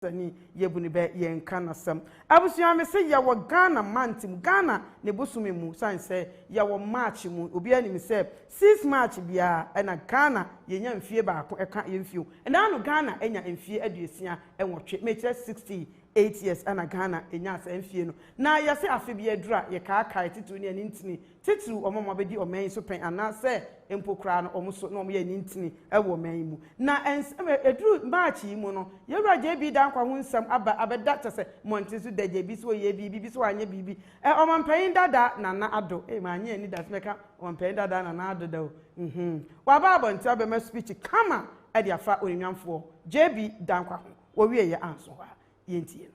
Sani yɛbu no bɛ yɛ nka nasɛm. Abusua me se yɛwɔ Ghana month mu Ghana ne bosome mu sane sɛ yɛwɔ March mu obiara nim sɛ six March biara ɛna Ghana yɛnya mfie baako ɛka yɛn mfie o ɛna ano Ghana anya mfie aduosia nwɔtwe mekyerɛ sixty eight years ɛna Ghana ɛnyaa saa mfie no na yɛse afe biara duru a yɛkaakae titiriw ne ɛne ntini Titiriw wɔn a wɔabedi ɔman yi so pɛn anaasɛ mpo koraa no wɔn so na wɔyɛ anintini wɔ ɔman yi mu. Na ɛnsɛ sɛ eduru March yi mu no, yɛn wura JB Danquah ho nsɛm aba abɛda kyerɛ sɛ mmɔnten so da JB sɛ ɔyɛɛ biribi bi sɛ wanyɛ biribi. Ɛ, Ɔmampanyin Dada Nana Addo, ei, mannye anidaso mɛka Ɔmampanyin Dada Nana Addo da o, mm-hmm, waba abɔnten abɛma speech kama de afa Onimnyamfoɔ JB Danquah ho. Wɔwieeɛ anso hɔ a, yɛntie no.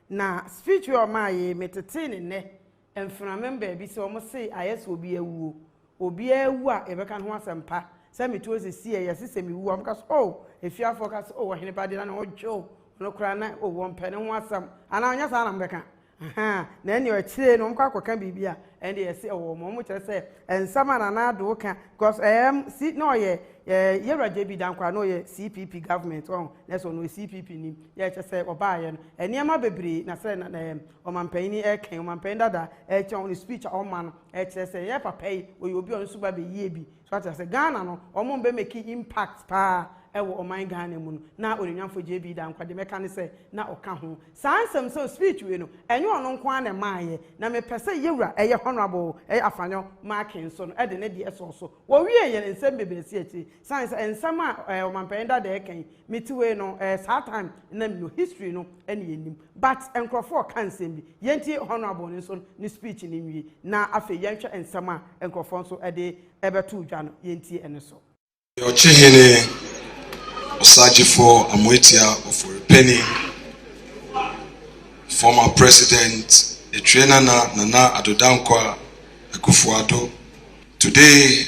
Na speech wei a ɔmaa yei me tetee ne nnɛ mfenamem baabi sɛ ɔmo see ayɛ sɛ obi awuo obiaa awu a yɛbɛka ne ho asɛmpa sɛ meto ase si ɛ yɛse sɛ mewu a ɔmo ka sɛ oh afiafoɔ ka sɛ oh ɔheneba deɛ na ne ho dwo no koraa na oh wɔmpɛ ne ho asɛm anaa ɔnyɛ saa na mobɛka ahaa na ɛneɛ akyiree no ɔmo kɔ akɔka biribi a ɛnde yɛse ɛwɔ ɔmo ɔmo kyerɛ sɛ nsɛm a nana adoo ka because ɛɛm si na ɔyɛ yɛwura JB Dankwah na ɔyɛ CPP government ɔho na ɛsɛ ɔno ɔyɛ CPP nim yɛ kyɛ sɛ ɔbaeɛ no nneɛma bebree na sɛ na ɛɛ ɔmanpanyin ɛkɛn ɔmanpanyin dada ɛkyɛ ɔno speech a ɔma no ɛkyerɛ sɛ yɛ papa yi ɔyɛ obi a ɔno nso ba bɛyie bi so ate sɛ Ghana no ɔmo bɛ make impact paa ɛwɔ ɔman Ghana mu no na onuonyamfo JB Danquah deɛ mɛka ne sɛ na ɔka ho saa nsɛm sɛ speech wei no ɛnyɛ ɔno nko ara na ɛmaeɛ na mepɛ sɛ yɛwura ɛyɛ honourable ɛyɛ Afanyɔ Markin nso no ɛde ne deɛ ɛsɔɔ so wɔwieɛ no nsɛm bebree si akyire Sane sɛ nsɛm a ɔmanpanyin dada ɛka yi me te wei no ɛɛ saa time na me no history no ɛna yɛ nim but nkorɔfoɔ ka nsɛm bi yɛn tie honourable no nso ne speech no nwie na afei yɛn hwɛ nsɛm a nkorɔfoɔ nso ɛde ɛbɛtoo dwa no yɛn tie ɛno so. Ɔkyehene Osagyefɔɔ Amoatia Ofori-Panin, Former President Atwire Nana Nana Addo Dankwa Akufo-Addo, Today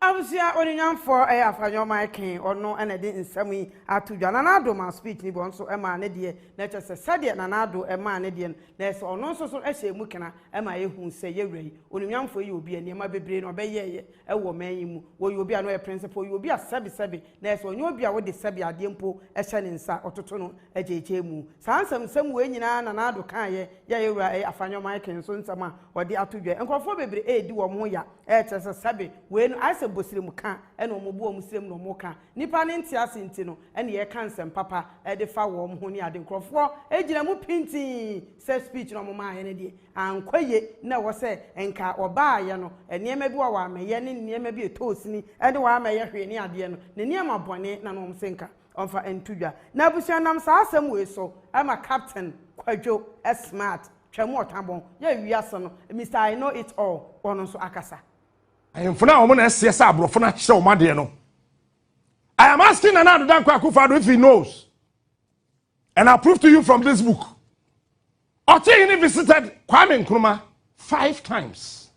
Abusua ɔnunyamfoɔ ɛyɛ Afanyɔ Mike ɔno na ɛde nsɛm yi ato dwa. Nana Addo maa speech no bi, ɔno nso maa ne deɛ, na kyerɛ sɛ sɛdeɛ Nana Addo maa ne deɛ no, na ɛsɛ ɔno nso so hyɛ mu kena ma yɛhu sɛ yɛwura yi, ɔnunyamfoɔ yi yɛ obi a nneɛma bebree na ɔbɛyɛeɛ wɔ ɔman yi mu, ɔyɛ obi a na ɔyɛ principal, ɔyɛ obi a sɛbesɛbe Nurse, Ɔnyɛ obi a wode sɛbe adeɛ mpo hyɛ ne nsa, ɔtoto no gyeekyee mu. Saa nsɛmnsɛm wei nyinaa na Nardo kaeɛ yɛɛ yɛn wura Afanyɔ Mike nso nsɛm a ɔde ato dwa yi. Nkurɔfoɔ bebree redi wɔn ho ya rekyerɛ sɛ sɛbe wei no ayɛ sɛ bosrem ka na wɔbu wɔn srem na wɔka. Nnipa no nte ase nti no na yɛka nsɛm papa de fa wɔn ho ne ade. Nkurɔfoɔ gyina mu pintinn Sɛ speech na ɔmo maa yɛ no deɛ ankɔ yie na ɛwɔ sɛ nka ɔbaa yɛ no nneɛma bi wɔ a w'amɛyɛ ne nneɛma bi ɛtɔɔ sini ɛne w'amɛyɛ hwee ne adeɛ no ne nneɛma bɔne na na ɔmo se nka ɔmfa nto dwa na abusua nam saa asɛm wei so ɛma captain kwadwo smart twam ɔta bɔn yɛ wiase no Mister I know it all ɔno nso akasa. Ahemfo no a wɔn na ɛseɛ sɛ aborɔfo no akyerɛ wɔn adeɛ no I am asking Nana Ado Dankwa Akufo-Addo if he knows. And I prove to you from this book. Otihini visited Kwame Nkrumah five times.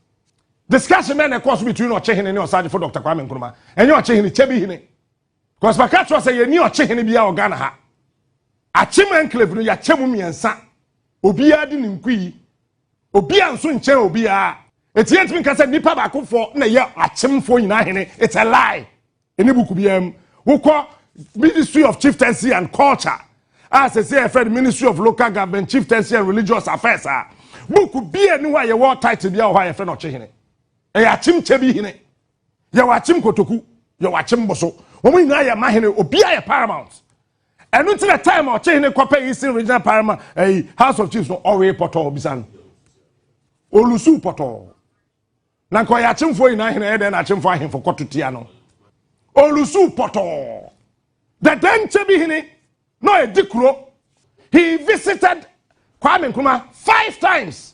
Discussion then course between Ochihini and Osaji for Dr. Kwame Nkrumah. And you Ochihini, Chebihini. Because my catch was a yeni Ochihini biya or Ghana ha. Achim enclave no ya chemu miensa. Obiya di ninkui. Obiya nso nkyɛn obiya. Eti yɛntumi nka sɛ nipa baako fo na yɛ akyemfo nyinaa hene. It's a lie. Ɛni buku biara mu. Wokɔ Ministry of Chieftaincy and Culture a sɛsɛ yɛfrɛ no Ministry of Local Government Chieftaincy and Religious Affairs a buku bia ni hɔ a yɛwɔ title bia wɔ hɔ a yɛfrɛ no ɔkyehene ɛyɛ akyem kyɛ bi hene yɛwɔ akyem kotoku yɛwɔ akyem boso wɔn nyinaa yɛ ma hene obia yɛ paramount ɛno nti na time a ɔkyehene kɔpɛ eastern regional paramount ɛyi house of chiefs no ɔwee pɔtɔɔ bisa no olusu pɔtɔɔ Na nka ɔyɛ akyemfoɔ nyinaa hene ɛyɛ dɛn na akyemfoɔ ahemfo kɔto tia no olusu pɔtɔɔ dɛdɛ nkyɛ bi hene na ɔyɛdi kuro he visited Kwame Nkrumah five times.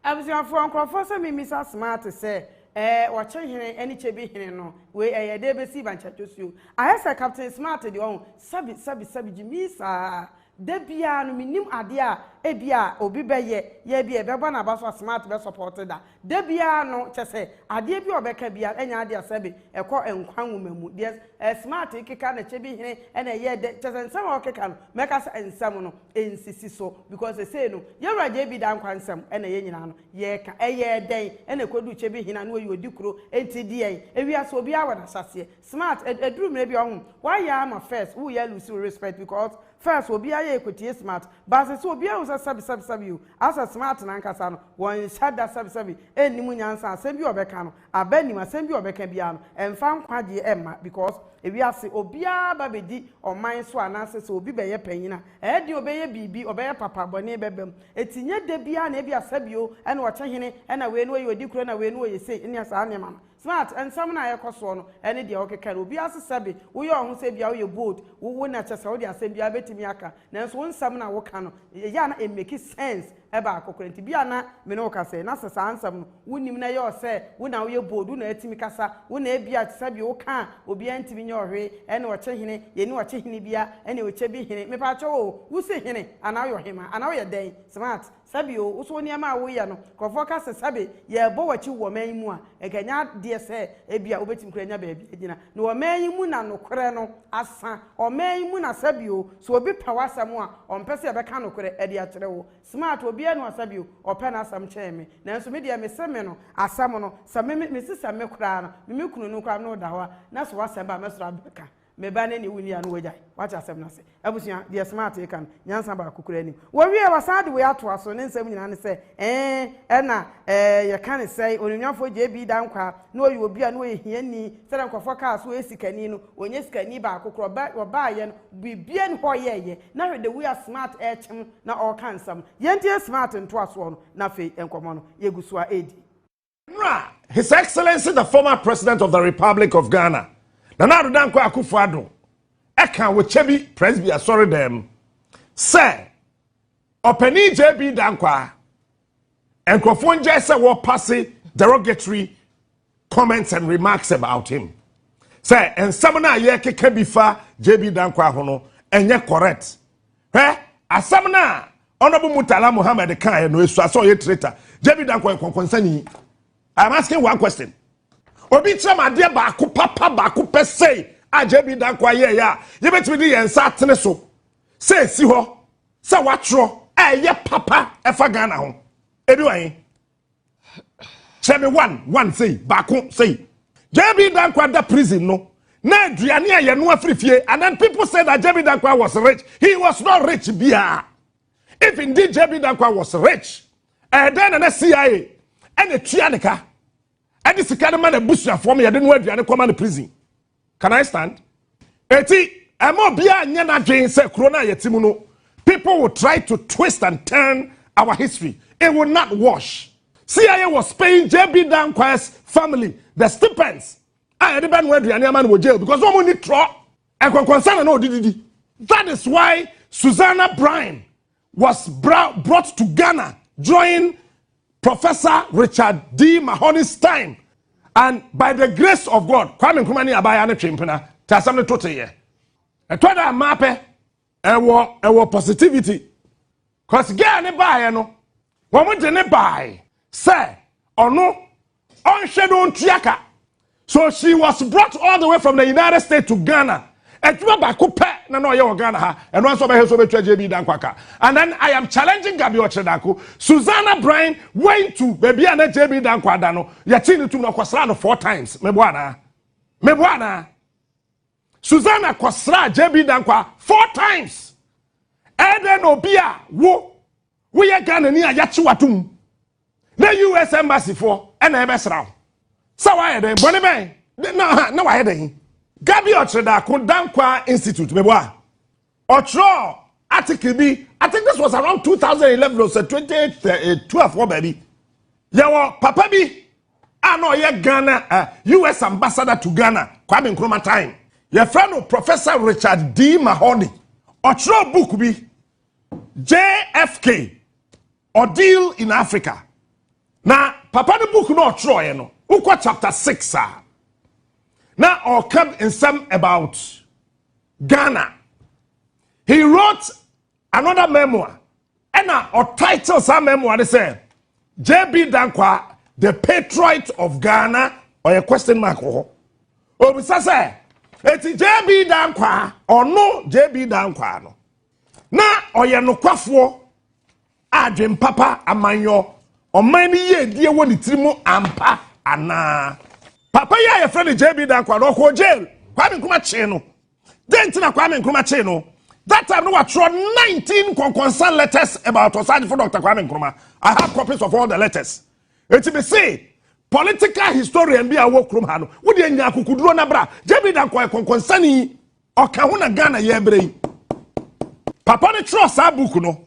Abusuafoɔ nkorɔfoɔ sɛ memisa smart sɛ ɛɛ ɔkye hene ɛne kyɛ bi hene no wei ɛyɛ dɛn bɛsi bankya dwosuo ayɛ sɛ captain smart deɛ ɔho sabi sabi sabi gyimii saa Da biara no mennim adeɛ a ebia obi bɛyɛ yɛ ebia ɛbɛba n'aba so a smart bɛ support da da biara no kyɛ sɛ adeɛ bi a ɔbɛka biara ɛnyɛ adeɛ a sɛbe ɛkɔ nkwa nwoma mu deɛ eh, smart keka na kyɛ bi hene ɛna ɛyɛ dɛ kyɛ sɛ nsɛm a ɔkeka no mɛka sɛ nsɛm no ɛnsisi so because ɛsei no yɛwura gye bi da nkwa nsɛm ɛna yɛ nyinaa no yɛka ɛyɛ dɛn ɛna ɛkɔdu kyɛ bi hene a na ɔyɛ ɔdi kuro ɛnti deɛn ewiase obiara wɔ n'ahyɛseɛ Smart ɛduru mmerɛ bi a ɔho wayɛ ama first wo yɛ lose wo respect because first obiara yɛ ɛkɔtie smart but sese obiara hu sɛ sɛbi sɛbi sɛbi o asɛ smart nankasa no wɔnhyɛ da sɛbi sɛbi ɛnnim nyansa asɛm bi a ɔbɛka no aba nim asɛm bi a ɔbɛka biara no ɛmfa nkwagyeɛ ɛmma because ewiase obiara ba bɛdi ɔman so anaasɛ sɛ obi bɛyɛ panyin a ɛyɛ den ɔbɛyɛ biribi ɔbɛyɛ papa bɔne bɛba mu ɛti nyɛ da biara na ɛbi a sɛbi o ɛna ɔte hene ɛna wei no ɔyɛ ɔdi kuro ɛna wei no ɔyɛ sei ne saa nneɛma no Smart, nsɛm no a ɛkɔ soɔ no ɛne deɛ wokeka no obiara se sɛbe woyɛ wo ho sɛ bia woyɛ bold wo wo na kyɛsɛ wode asɛm biara bɛtumi aka nanso wo nsɛm no a woka no ɛyɛ a na ɛmmeki sense baako koraa nti bia na me ne wo ka sɛ na sɛ saa nsɛm no wonim na ɛyɛ wo sɛ wo na woyɛ bold wo na atumi kasa wo na ɛbia te sɛbe woka a obiara ntumi nyɛ wo hwee ɛne ɔkye hene yɛni ɔkye hene biara ɛne ɔkyɛ bi hene mepaakyɛw oo wo se hene anaa woyɛ ɔhemaa anaa woyɛ dɛn Smart Sɛ bi o, wo so wo nneɛma a woyɛ no, nkurɔfoɔ ka sɛ sɛbe yɛrebɔ w'akyi wɔ ɔman yi mu a, nka ɛnyɛ adeɛ sɛ ebia wobɛtumi koraa anya baabi agyina. Na ɔman yi mu na nokorɛ no asa. Ɔman yi mu na sɛbe o, sɛ obi pɛ w'asɛm a, ɔmpɛ sɛ yɛbɛka nokorɛ de akyerɛ wo. Smart, obiara nni hɔ a sɛbe o, ɔpɛ n'asɛm kyɛn me. Nanso me deɛ, mese me no, asɛm no, sɛ me, me, mese sɛ me koraa no, me me kunu no koraa, na ɔda hɔ a, na sɛ w'asɛm ba a, mɛsɔre abɛka. Me ba ne ne wo nua no wagyae. Wate asɛm no ase. Abusua, deɛ Smart reka no, nyansa baako koraa nnim. Wɔwiee, wɔasan de wei atoa so. Ne nsɛm nyinaa ne sɛ, Ee, ɛna, ɛɛ, yɛka no sɛn? Onuonyamfoɔ JB. Dankwah, na ɔyɛ obi a na ɔyɛ hiani. Sɛdeɛ nkurɔfoɔ kaa sɛ ɔyɛ sikani no, ɔnyɛ sikani baako koraa. Ɔba, ɔbaeɛ no, biribiara nni hɔ a ɔyɛeɛ. Na hwɛ the way a Smart rekyem na ɔreka nsɛm no. Yɛntie Smart ntoasoɔ no, na afei nkɔmmɔ no, yɛgu so ara redi. Nra, His Excellency the former President of the Republic of Ghana, Nana Addo Dankwa Akufo-Addo, ɛka wɔ Kyebi Presby Asɔredan sɛ ɔpanin JB Dankwa nkurɔfoɔ ngyɛ sɛ wɔpase derogatory comments and remarks about him sɛ nsɛm no a yɛkeka bi fa JB Dankwa ho no ɛnyɛ correct hwɛ asɛm no a Honourable Murtala Muhammed kaeɛ no esua sɛ ɔyɛ traitor. JB Dankwa yɛ kɔnkɔnsani. I am asking one question. Obi kyerɛ m adeɛ baako papa baako pɛ sei a JB Dankwa yɛɛyɛ a yɛbɛtumi de yɛn nsa atene so sɛ esi hɔ sɛ watwerɛ a ɛyɛ papa ɛfa Ghana ho. Ebi wɔ he? hyɛ me one one sei baako sei jb dankwa da prison no na aduane a yɛno afiri fie and then people say that jb dankwa was rich he was not rich biara if indeed jb dankwa was rich ɛdɛn eh, na na cia ɛna tua ne ka ɛde sika no ma na abusuafoɔ ma yɛde no aduane kɔma no prison Can I stand? Eti, ɛma obiara nyɛ n'adwene sɛ kuro no a yɛte mu no, people will try to twist and turn our history. It will not wash. CIA was paying JB Dankwa's family the stipends a yɛde bɛnoa aduane ama no wɔ jail because wɔn ni trɔ ɛkɔnkɔnsa na na ɔde didi. That is why Susanna Brine was brought to Ghana during Professor Richard D. Mahoney Stein, and by the grace of God, Kwame Nkrumah ne abaayaa no twe mpena te asɛm no to teyɛ. Ɛtɔ da mmaa pɛ, ɛwɔ ɛwɔ positivity. Cause girl ne baeɛ no, wɔn de ne bae sɛ ɔno Ɔnhwɛ na ɔntua ka. So she was brought all the way from the United States to Ghana. Adwuma baako pɛ na na ɔyɛ wɔ Ghana ha. Ɛno ara nso ɔbɛhwɛ sɛ ɔbɛtua JB Dankwa ka. And then I am challenging Gabi Ɔkyerɛdako. Susanna Brine went to baabi a na JB Dankwa da no. Yɛkyee no tum no ɔkɔsraa no four times. Meboa anaa? Meboa anaa? Susanna kɔsraa JB Dankwa four times. Ɛdɛn na obi a wo woyɛ Ghana ni a yɛakye w'atom na us embassy foɔ ɛna ɛbɛsra wo sɛ wayɛ dɛn bɔne bɛn na ha na wayɛ dɛn gabi ɔkyerɛdaako dankwa institute mebɔ a ɔtwerɛ article bi i think this was around 2011 or 2012 wɔ baabi yɛwɔ papa bi a na ɔyɛ ghana uh, eh, us ambassador to ghana kwame nkrumah time yɛfrɛ no professor richard d mahoney ɔtwerɛ book bi jfk Ordeal in Africa. Na papa no book na ɔtwerɛeɛ no, wokɔ chapter six a, na ɔka nsɛm about Ghana. He wrote another memoir, ɛna ɔtitle saa memoir no sɛ JB Dankwa, the patriot of Ghana, ɔyɛ question mark wɔ hɔ. Obisa sɛ, eti JB Dankwa, ɔno JB Dankwa no, Na ɔyɛ nokwafoɔ a adwene papa amanyɔ ɔman no yiedie wɔ ne tiri mu ampa anaa. Papa yi a yɛfrɛ no JB Dankwa no ɔkɔɔ jail Kwame Nkrumah kyee no. Dɛn nti na Kwame Nkrumah kyee no? That time no watwerɛ 19 nkɔnkɔnsa letters about Ɔsaagyefo Dr. Kwame Nkrumah. I have copies of all the letters. Eti me se political historian bi a ɔwɔ kurom ha no, wo deɛ nya akokoduro na bra. JB Dankwa yɛ kɔnkɔnsani. ɔka ho na ghana yɛbrɛ yi papa no twerɛ saa book no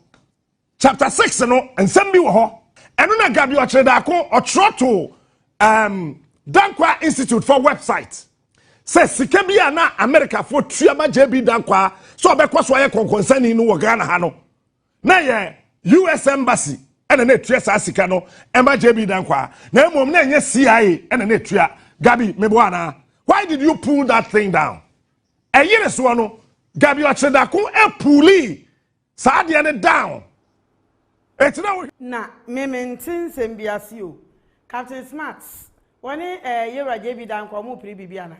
chapter six no nsɛm bi wɔ hɔ ɛno na gabi ɔkyerɛ daako ɔtwerɛ to um, dankwa institute for website sɛ sika bi a na amerikafoɔ tua ma jb dankwa sɛ ɔbɛkɔ so ayɛ kɔnkɔnsani no wɔ ghana ha no na yɛ us embassy ɛna na etua saa sika no ɛma jb dankwaa na mmom na ɛnyɛ cia ɛna na etua gabi mebo ana why did you pull that thing down ɛyere soɔ no gabi ɔkyedako ɛpuli saa adeɛ no down ɛtina wo. na meme nte nsɛm bi ase o captain smart wɔne ɛɛ eh, yewura jb dankwaa wɔn piri biribi ana.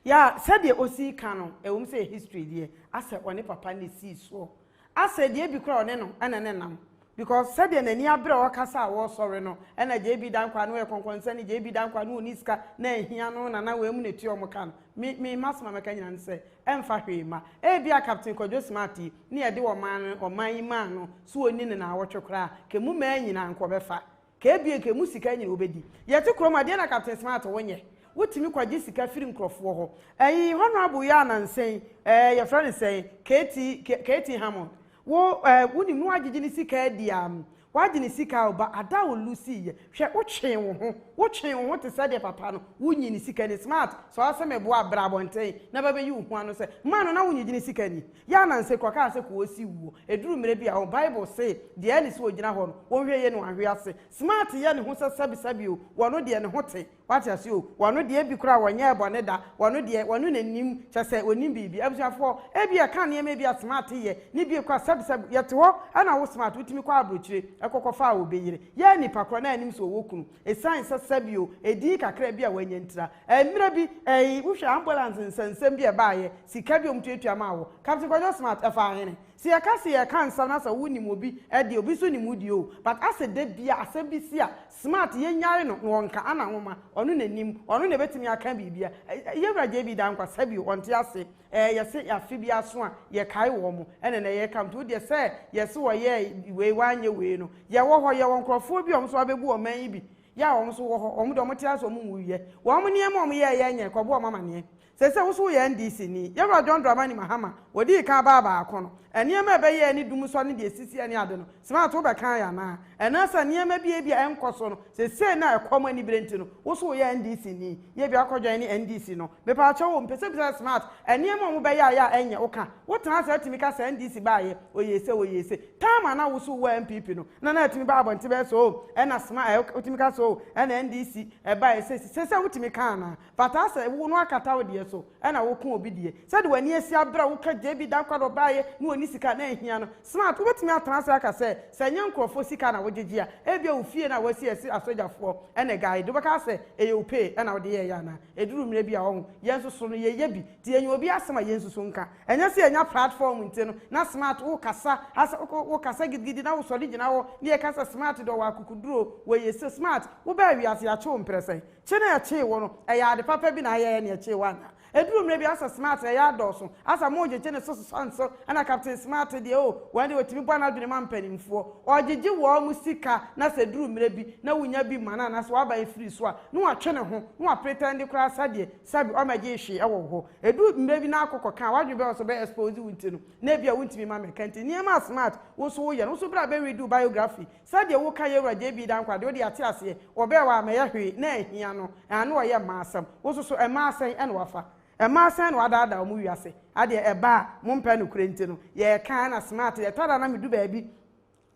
Yaa, sɛdeɛ ɔsii ka no, ɛwom sɛ yɛ history deɛ, asɛ ɔne papa no na ɛsii soɔ. Asɛ deɛ bi koraa ɔne no na ne nam. Because sɛdeɛ n'ani abere a ɔɔkasa a wɔɔsɔre no, ɛna JB Dankwah no ɔyɛ kɔnkɔnsani, JB Dankwah no ɔnni sika na anhia no na na wɔamu no atua wɔn ka no. Me, me, m'asɛm a mɛka nyinaa ne sɛ, ɛmfa hwee mma. Ɛbi a Captain Kwadwo Smart yi, ne yɛde ɔman no, ɔman yi maa no, sɛ ɔnni no nnawɔtwe koraa a, nka ɛmu mmaa nyinaa nka ɔbɛfa. K'ebien nka emu sika nyin wobedi. Yɛte kurom a, deɛn na Captain Smart wo nyɛ? Wotumi kɔgye sika firi nkorɔfoɔ hɔ. Ɛyi Honourable yi a nansa yi, ɛɛ yɛfrɛ no sɛn, KT, K, KT Hammond, wo ɛɛ wonim na wagyegye ne sika adi a, wagye ne sika o, ba ada a ɔluusii yɛ. Hwɛ, wotwee wo ho, wotwee wo ho te sɛ deɛ papa no, wonyi ne sika ni. Smart, sɛ ɔsɛ meboa a, bra abɔnten na bɛbɛyi wo ho ano sɛ, mmaa no na wonnyegye ne sika ni? Yɛ ananse kɔ kaa sɛ koosi wuo. Ɛduru mmerɛ bi a o, Bible se, deɛ ɛne sɛ ɔgyina hɔ no, wɔnhwɛ yie na wɔanhwe ase. Smart yɛ ne ho sɛ sɛbi sɛbi o, wɔno deɛ ne ho te. Wate aseɛ o. Wɔno deɛ ebi koraa wɔnyɛɛ bɔne da. Wɔno deɛ, wɔno na ɛnim, kyerɛ sɛ, ɔnim biribi. Abusuafoɔ, ebia ɛka nneɛma bi a Smart yɛ, ne bie koraa sɛbi sɛbi. Yɛte hɔ, ɛna wo Smart, wotumi kɔ abrokyire, ɛkɔ kɔ fa a, ɔbɛyere. Yɛ nipa korɔ na ɛnim sɛ ɔwɔ kunu. Ɛsiane sɛ sɛbi o, ɛdin kakra bi a wanya ntira. Mmerɛ bi ei wohwɛ ambulance nsɛnsɛm bi a ɛbaeɛ, sika bi a wɔtuatua maa wo, Captain Kwadwo Smart, ɛfaa hene? Sɛ yɛka se yɛreka nsɛm na sɛ wo nim obi deɛ, obi nso nim wo deɛ oo, but asɛ da biara asɛm bi si a, Smart yɛnyae no na ɔnka, ana nwoma, ɔno na nim, ɔno na ɛbɛtumi aka biribiara. Yɛwura JB Danquah, sɛ bio, ɔnte ase, ɛɛ yɛse afe bi aso a, yɛkae wɔn, ɛna ɛnnɛ yɛreka, nti wo deɛ sɛ yɛse wɔyɛɛ wei, wɔanyɛ wei no, yɛwɔ hɔ, yɛwɔ nkorɔfoɔ bi a wɔn nso abɛbu ɔman yi bi, Yɛ a wɔn nso wɔ hɔ, wɔn de, wɔte ase, wɔn nwuiɛ. Wɔn nneɛma a wɔn yɛɛ yɛɛ nyɛɛ, kɔboa wɔn amaneɛ. Seesei wo nso wo yɛ NDC ni. Yɛn wura John Dramani Mahama, wɔdii kan baa baako no, nneɛma a ɛbɛyɛɛ ne dum sɔ ne deɛ ɛsisiɛ ne ade no, Smart wo bɛkae anaa? Anaasɛ nneɛma bi a ebia ɛnkɔ so no, seesei no a ɛkɔ mo anibere nti no, wo nso wo yɛ NDC ni? Yɛ a bi wakɔ joine NDC no. Mepaakyɛw o, mepɛ sɛ bisa sɛ Smart, nneɛma a wɔn bɛyɛɛ a yɛ a ɛnyɛ, wo ka, wo tena ase a tumi ka sɛ NDC baeɛ, wɔyɛɛ sei, wɔyɛɛ sei. Time a na wo so wɔ NPP no na na atumi ba abɔnten bɛyɛ sɛ oh ɛna sma ɛ wotumi ka sɛ oh ɛna NDC ɛbaeɛ sɛsi sɛsɛ wotumi ka anaa? Fataa sɛ wo no akata wo deɛ so ɛna wo ko obi deɛ sɛde w'ani asi aberɛ a wo ka JB Dankwado baeɛ na ɔnni sika na ɛnhia no smart wobɛtumi atena ase aka sɛ sɛ ɛnyɛ nkorɔfoɔ sika na wo gyegye a ɛbia wo fie no a wasi ɛse asogyafoɔ ɛna ɛguide wo bɛka sɛ ɛyɛ wo pay ɛna wode yɛɛyɛ anaa? Ɛduru mmerɛ bi a ɔho yɛn nso so no yɛyɛ bi nti ɛnyɛ obi asɛm a yɛn nso so nka Ɛnyɛ sɛ yɛanya platform nti no na smart wo kasa ha sɛ wokɔ wo kasa gidigidi na wo sɔre gyina hɔ ne yɛka sɛ smart deɛ ɔwɔ akukuduro wɔ yɛ so smart wo baa wiase yɛakye wo mprɛsɛn kye na yɛkyee wo no ɛyɛ ade papa bi na ayɛɛ na yɛkyee wo anaa ɛduru mmerɛ bi asɛ smart ɛyɛ adɔɔso asɛ mo gyegye ne so sesa nso ɛna captain smart deɛ oh wɔn deɛ ɔtumi bɔ n'adwene ma mpaninfoɔ ɔgyegye wɔn mo sika na sɛ ɛduru mmerɛ bi na wo nya bi ma no anaa sɛ waba ɛfiri so a na watwe ne ho na wa pretend koraa sɛdeɛ sɛbi ɔmmɛgyee hwee wɔ wo hɔ. Edu mmerɛ bi na akɔ kɔka a w'adwene bɛyɛ ɔsɛ ɔbɛ expose wo nti no na ebia wontumi mma mmɛka nti nneɛma a smart wo nso woyɛ no wo nso bra bɛ read wo biography sɛdeɛ woka Yɛwura JB Dankwah deɛ wode yɛate aseɛ ɔbɛɛ hɔ a mɛyɛ hwee na anhia no ɛɛ na ɔyɛ mmaa asɛm wo nso so mmaa sɛn ɛna wafa mmaa sɛn na wadaadaa wɔn wiase adeɛ ɛba a mompɛ nokorɛ nti no yɛɛka ɛna smart yɛtɔ da na medu baabi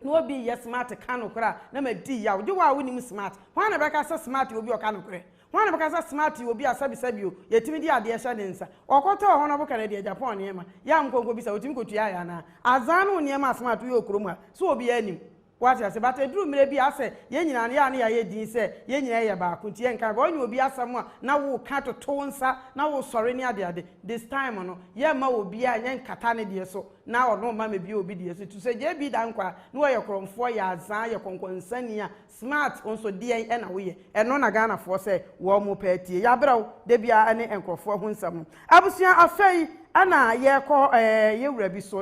Na obi reyɛ smart ka nokorɛ a, na madi yaw. Gye wo a wonim smart. Hwan na ɛbɛka sɛ smart yɛ obi a ɔka nokorɛ? Hwan na ɛbɛka sɛ smart yɛ obi a sɛbesɛbe o, yɛtumi de adeɛ hyɛ ne nsa? Ɔkɔtɔɔ hɔ no ɔboka no deɛ Japan nneɛma. Yam nkɔnkɔbisa, wotumi kɔtuaa yɛ anaa? Azaa ne wo nneɛma a smart woyɛ wɔ kurom ha, so obiara nim? Woate aseɛ? But ɛduru mmerɛ bi a asɛ yɛn nyinaa no yɛ a na yɛayɛ din sɛ yɛn nyinaa yɛ baako nti yɛnka hwee. Ɔnyɛ obi asɛm a na woreka toto wo nsa na woresɔre ne adeade. This time no, yɛmma obiara nyɛ nkata ne deɛ so. na ɔno mma me bio bi deɛ so tu sɛ JB Dankwah ne ɔyɛ korɔmfoɔ yɛ azaa yɛ kɔnkɔnsani a smart nso deɛn ɛna woyɛ ɛno na Ghanafoɔ sɛ wɔn mo pɛ atie yɛabrɛ wo da biara ɛne nkorɔfoɔ ho nsɛm no abusua afei ɛna yɛkɔ ɛɛ yɛwura bi so na